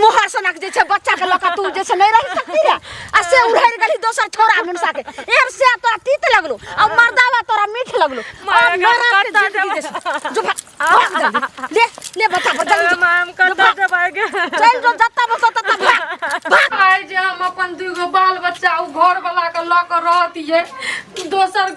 मोहर सनक जे छै बच्चा के लक तू जे छै नहीं रह सकती रे आ से उड़हर गली दोसर छोरा मुनसा के एहन से तोरा तीत लगलो आ मर्दावा तोरा मीठ लगलो आ मरा के जिंदगी जे छै। जो भा- भाग जल्दी। ले ले बता बता जल्दी मैम कतऽ जबाएगे चल जो जत्ता बसा तत्ता भाग भाग आइ जे हम अपन दूगो बाल बच्चा उ घर वाला के लऽ के रहतियै दोसर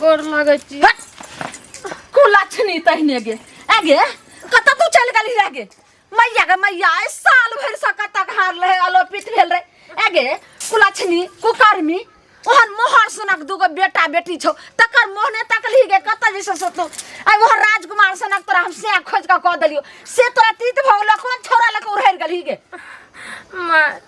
गोर लगे छी कुलक्षणी तहने गे आगे कत तू चल गली रह गे मैया गे मैया ए साल भर से कत घर रहे अलोपित भेल रहे आगे कुलक्षणी कुकर्मी ओहन मोहर सनक दूगो बेटा बेटी छौ तकर मोहने तकली गे कत जैसे से तू आई ओहन राजकुमार सनक तोरा हम से खोज के कह देलियो से तोरा तीत भगलो कोन छोरा लके उड़हर गली गे माँ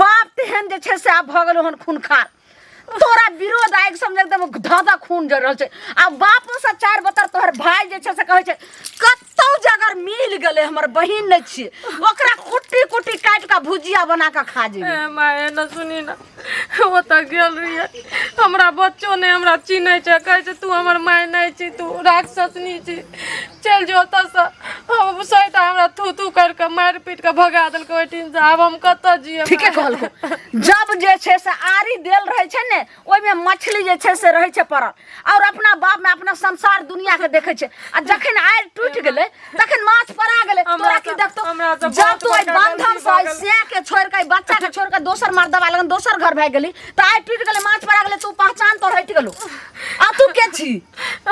बाप तेहन जे छै से आब भऽ गेल हन खूनखार तोरा विरोध आगि समझ एकदम धधा खून जर रहल छै आ बापो से चार बतर तोहर भाय जे छै से कहै छै कतौ जे अगर मिल गेलै हमर बहिन नहि छियै ओकरा कुट्टी कुट्टी काटि कऽ भुजिया बना कऽ खा जेबै ए माए न सुनी न ओ तऽ गेल रहियै हमरा बच्चो नहि हमरा चिन्है छै कहै छै तू हमर माय नहि छी तू राक्षसनी छी चल जो ओतऽ से हम सहित हमरा थू थू कर के मार पीट के भगा देलक ओइ टीन से आब हम कत जिए ठीके कहलको जब जे छै से आरी देल रहै छै ने ओहिमे मछली जे छै से रहै छै पड़ल और अपना बाप में अपना संसार दुनिया के देखै छै आ जखन आरि टूटि गेलै तखन माछ पड़ा गेलै हमरा तोरा की तऽ- देखतो हमरा तऽ जब बहुत तू ओहि बड़का बंधन गलती से भऽ गेल। सिया के छोड़ के बच्चा के छोड़ के दोसर मर्दवा लगन दोसर घर भए गेली तऽ आइ टूटि गेलै माछ पड़ा गेलै तू पहचान तो हटि गेलू आ तू के छी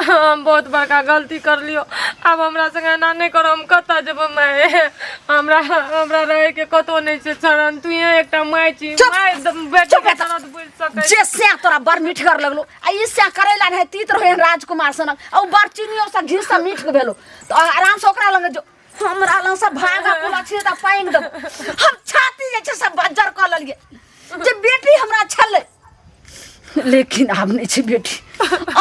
हम बहुत बड़का गलती कर लियो आब हमरा संग एना नहीं करो हम कत जेबो माय हमरा हमरा रहे के कतो नहीं छै शरण तू यहाँ एकटा माय छी चुप! माय द- बेटी चुप के एतऽ। दर्द बुझ सकै जे से तोरा बड़ मीठगर लगलो आ ई से करे ला रहे तीत रहे राजकुमार सनक आ उ बड़ चीनियो से घी से मीठ के भेलो तो आराम से ओकरा लगे जो हमरा लग से भागा पुला छिए त पाइन दो हम छाती जे छै से बज्जर क लेलिए जे बेटी हमरा छले लेकिन आब नहीं छै बेटी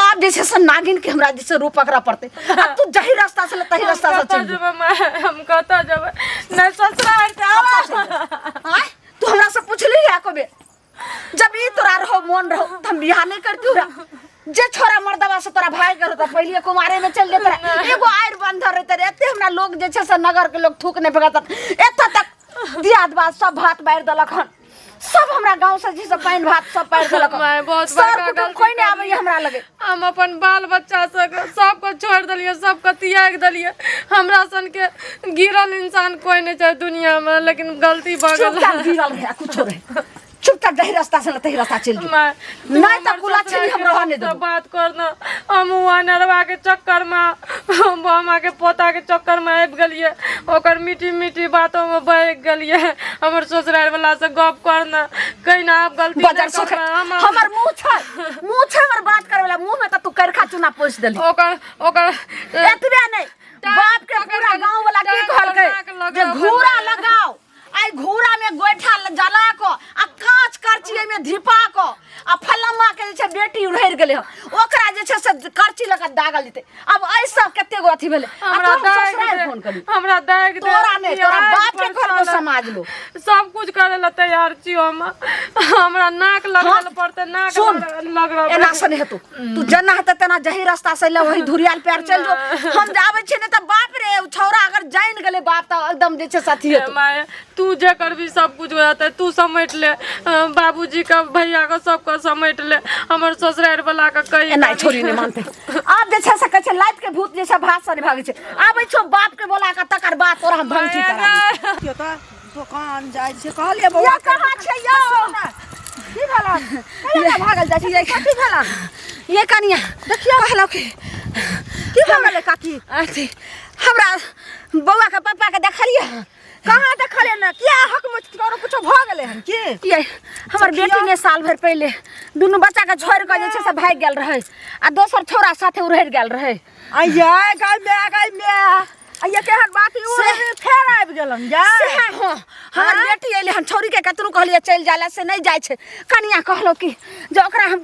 आब जे छै से नागिन के हमरा जे छै रूप पकड़ा पड़ते आ तू जही रास्ता से ले तही रास्ता से चल जब हम कहता जब न ससुराल से आवा तू हमरा से पूछली है कबे जब ई तोरा रहो मन रहो त हम बियाह नहीं करती हूँ रा। जे छोरा मर्दवा से तोरा भाई करो त पहिले कुमारे में चल जेतरा एगो आयर बंधर रहते रे एते हमरा लोग जे छै से नगर के लोग थूक नहीं फेंकत एत तक दियाद बात सब भात बार देलक हन सब हमरा गांव से जी से पानी भात सब पार देलक माय, बहुत सर बड़का कुटुम गलती कोई नहीं आवे हमरा लगे हम अपन बाल बच्चा सबके सबके छोड़ि देलियै सबके त्याग देलियै हमरा सनके गिरल इंसान कोई नहीं छै दुनिया में लेकिन गलती भऽ गेल चुपचाप गिरल रहे कुछो रहे चुपचाप जही रास्ता से तही रास्ता चल जो माय, तू नहीं तो हमर कुला ससुराल छीन के हम रहऽ नहि रास्ता देबो। बात कर ना हम उ अनरवा के चक्कर में हम बामा के पोता के चक्कर में आबि गेलिए ओकर मीठी मीठी बातों में बह गेलिए हमर ससुराल वाला से गप कर ना कहीं ना आप गलती बजर नहीं सोख करना हम हमर मुंह छै मुंह छै हमर बात करे वाला मुंह में त तू करखा चूना पोछ देली ओकर ओकर एतबे नहीं टांग बाप के पकड़ पूरा के- गांव वाला की टांग कहलकै पकड़ा के लगाओ, जे घूरा लगाओ। लगाओ आई घूरा में गोइठा ल- जला को आ कांच करची एमे धिपा को आ फलम्मा के जे छै बेटी उड़हर गेले ह ओकरा जे छै से करची लगा दागल जेते अब ऐसा कते गो अथी भेले आ हमरा तोहर दाग ससुराल दे- फोन करी हमरा दाग दे तोरा नहीं तोरा दियाद बाप के घर को परेशान। समाज लो सब कुछ करे ला तैयार छी हम हमरा नाक लगल हाँ, पड़ते नाक सुन, लग- लग रहा एना से नहीं तू तू जना हते तना जही रास्ता से ले वही धुरियाल पैर चल जो हम जावे छी ने त बाप रे उ छौरा अगर जान गेले बाप त एकदम जे छै साथी हेतौ माय तू जे करबी सब कुछ हो जाते तू समेट ले बाबूजी के भैया के सबके समेट ले हमर ससुरारि वाला के कही एना छोरी ने मानते आब जे छै से कहै छै लाइफ के भूत जे छै भात से भागे छै आबै छौ बाप के बोला के तकर बाद तोरा हम भंगटी करा यो त दोकान जाइ छै कहलिए बौआ कहाँ छै यो की भला कहिया भागल जाइ छै कथी भला ये कनिया देखियो कहलौ की की भला काकी अथी हमरा बौआ के पापा के देखलिए कहाँ देखल है ना क्या हक में करो कुछ भ गेले हन के ये हमर बेटी ने साल भर पहले दुनू बच्चा के छोड़ के जे छै से भाग गेल रहे आ दोसर छोरा साथे उड़हर गेल रहे आइया गाय में आ गाय में आइया केहन बात ई उड़े फेर आबि गेलन जा सेहे हो हमर बेटी अइले हन छोरी के कतनो कहलिए चल जाला से नहीं जाय छै कनिया कहलो कि जे ओकरा हम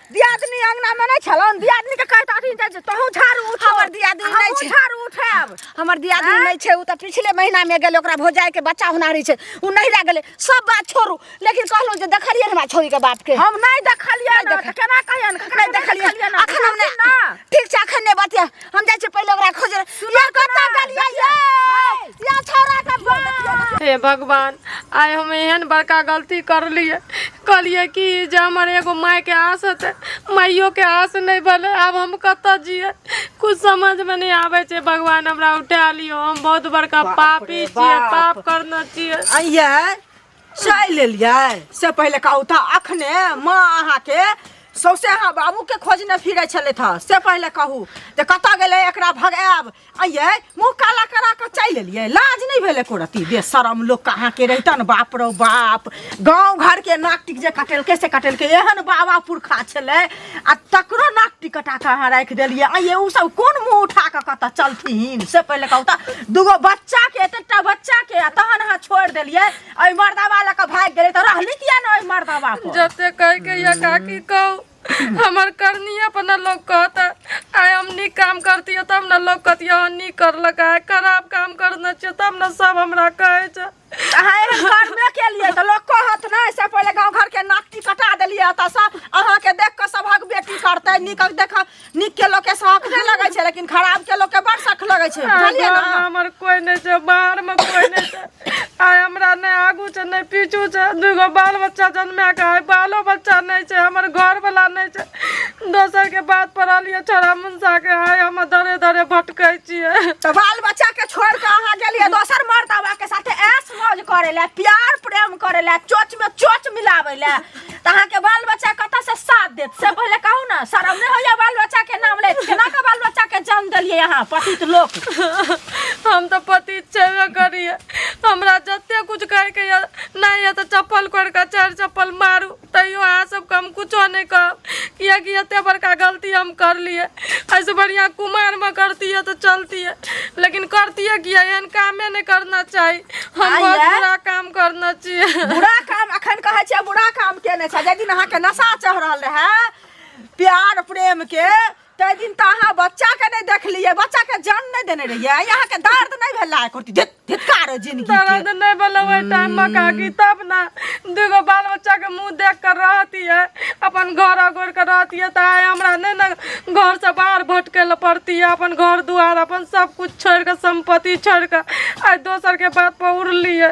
दियादनी अंगना में नहीं छलन दियादनी के कहता अथी जे तहू झाड़ू उठा हमर दियादनी नहीं छै। झाड़ू उठाब हमर दियादनी आँय? नहीं छै उ त पिछले महीना में गेल ओकरा भौजाई के बच्चा हुनारी छै उ नहीं रह गेले सब बात छोड़ू लेकिन कहलहुँ जे देखलियै हमरा छोरी के बाप के हम नहीं देखलिए नहीं ना देख- त केना कहियन नहीं देखलियै अखन हम नहीं ठीक छै अखन नहीं बतिया हम जाइ छी पहिले ओकरा खोजे या कत्ता गलिया ये या छोरा के बाप हे भगवान आइ हम एहन बड़का गलती करलिए कहलिए कि जे हमर एगो मायके आस हेतै माइयोके आस नहि भेलै आब हम कतऽ जियै कुछ समझमे नहि आबै छै भगवान हमरा उठा लियौ हम बहुत बड़का बाप रे पापी छियै बाप। पाप करने छियै अइया चलि एलियै से पहिले कहू तऽ अखने माँ अहाँके सौसे अहाँ बाबूके खोजने फिरै छलथि हँ से पहिले कहू जे कतऽ गेलै एकरा भगायब अइयै मुँह काला करा कऽ चलि एलियै लाज नहि भेल एको रत्ती बेशरम लोक कहाँके रहितन बाप रौ बाप गाँव घरके नाक टिक जे कटेलकै से कटेलकै एहन बाबा पुरखा छलै आ तकरो नाक टिकटा के अहाँ राखि देलियै आ ये उ सब कोन मुंह उठा के कतऽ चलथिन से पहिले कहू तऽ दूगो बच्चा के एतेटा बच्चा के आ तहन अहाँ छोड़ि देलियै एहि मर्दाबा लऽ कऽ भागि गेलै तऽ रहली किया ने एहि मर्दाबा पर जते कह के या काकी कहू हमर करनिया पर न लोग कहता आय हम नीक काम करतियो तब न लोग कहतियो हाँ नीक करलक आय खराब काम करना चाहिए तब न सब हमरा कहे छै अहाँ एहन कर्मे केलिए तऽ लोक कहत नहि से पहिले गाँव घरके नाकटी कटा देलियै एतऽसँ अहाँके देख कऽ सभक बेटी करतै नीक देख नीकके लोकके शौक नहि लगै छै लेकिन खराबके लोकके बड़ शौक लगै छै बुझलियै ने हमर कोई नहीं छै बाहर में कोई नहीं छै आय हमरा नहीं आगू छै नहीं पीछू छै दूगो बाल बच्चा जन्मे के है बालो बच्चा नहीं छै हमर घर वाला नहीं छै दोसर के बात पर रहलिए छोड़ा जाके है हम दरे दरे भटकै छियै तो बाल बच्चा के छोड़ के अहाँ गेलिए दोसर मर्दवा के साथे ऐश मौज करे ले प्यार प्रेम करे ले चोच में चोच मिलावे ले तो अहाँ के बाल बच्चा कत से साथ देत से पहले कहू ना शर्म नहीं होइया बाल बच्चा के नाम ले केना के बाल बच्चा के जन्म देलिए यहाँ पतित लोक हम तो पति छेबे करिए हमरा जते कुछ करके या नहीं है तो चप्पल कोड़ के चार चप्पल मारू तैयो अहाँ सबके हम कुछो नहि कहब किएकि एते बड़का गलती हम करलिए एहिसँ बढ़िआँ कुमारमे करतियै तऽ चलतियै लेकिन करतियै किया एहन कामे नहि करना चाही हम आइए। बहुत बुरा काम करना चाहिए बुरा काम अखन कहै छियै बुरा काम केने छै जाहि दिन अहाँके नशा चढ़ल रहै प्यार प्रेम के तै दिन त अहाँ बच्चा के नै देखलियै बच्चा के जन्म नै देने रहियै यहाँ के दर्द नै भेल लायक होती धित धितकार जिंदगी के दर्द नहीं बोला वही टाइम में काकी तब ना दूगो बाल बच्चा के मुंह देख कर रहती है अपन घर अगोर कर रहती है तो आए हमरा नहीं ना घर से बाहर भटके ला पड़ती है अपन घर दुआर अपन सब कुछ छोड़ कर संपत्ति छोड़ कर आज दोसर के बात पर उड़ली है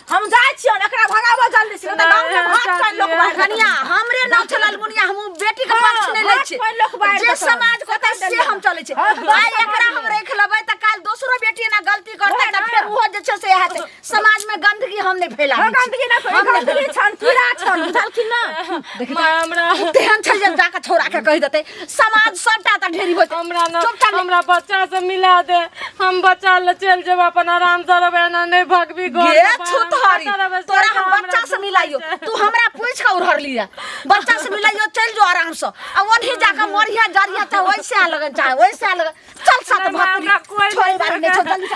हम जाइ छियै ने, एकरा भगाबऽ जल्दी से, नहि तऽ गाँव के नहि, भात पानि लोक चाची, बाहर कऽ कनिया देतै। हमरे नाम छै लालमुनिया हम बेटी के पक्ष नहि लै छी कोई लोक बाहर जे कऽ देतै। समाज को तऽ से हम चलै छी हँ, तऽ आइ एकरा हम रख लेबै तऽ काल दोसरो बेटी ना गलती करतै तऽ फेर ओहो जे छै से हेतै समाज में गंदगी हम नहि फैला हँ, गंदगी ना फैला, गंदगी छन, कीड़ा छन, बुझल कि ना? माय हमरा तेहन छै जे जाके छोड़ा के कहि देतै समाज सबटा त ढेरी होत हमरा ना चुपचाप हमरा बच्चा से मिला दे हम बच्चा ले चल जेब अपन आराम से रहबे ना नहीं भगबी घर ये के बाहर। छुतहरी पता रहबे तोरा सरकार हम हमरा बच्चा से सब मिलाइयो कुछ है। तू हमरा पूछ के उड़हर लिया बच्चा से मिलाइयो चल जो आराम से आ ओनही जाके मरिया जरिया त वैसे आ लगन चाहे वैसे आ लगन चल साथ नहीं, भाग हमरा कोई छोड़ नहीं बारी नहीं छोड़ जल्दी से।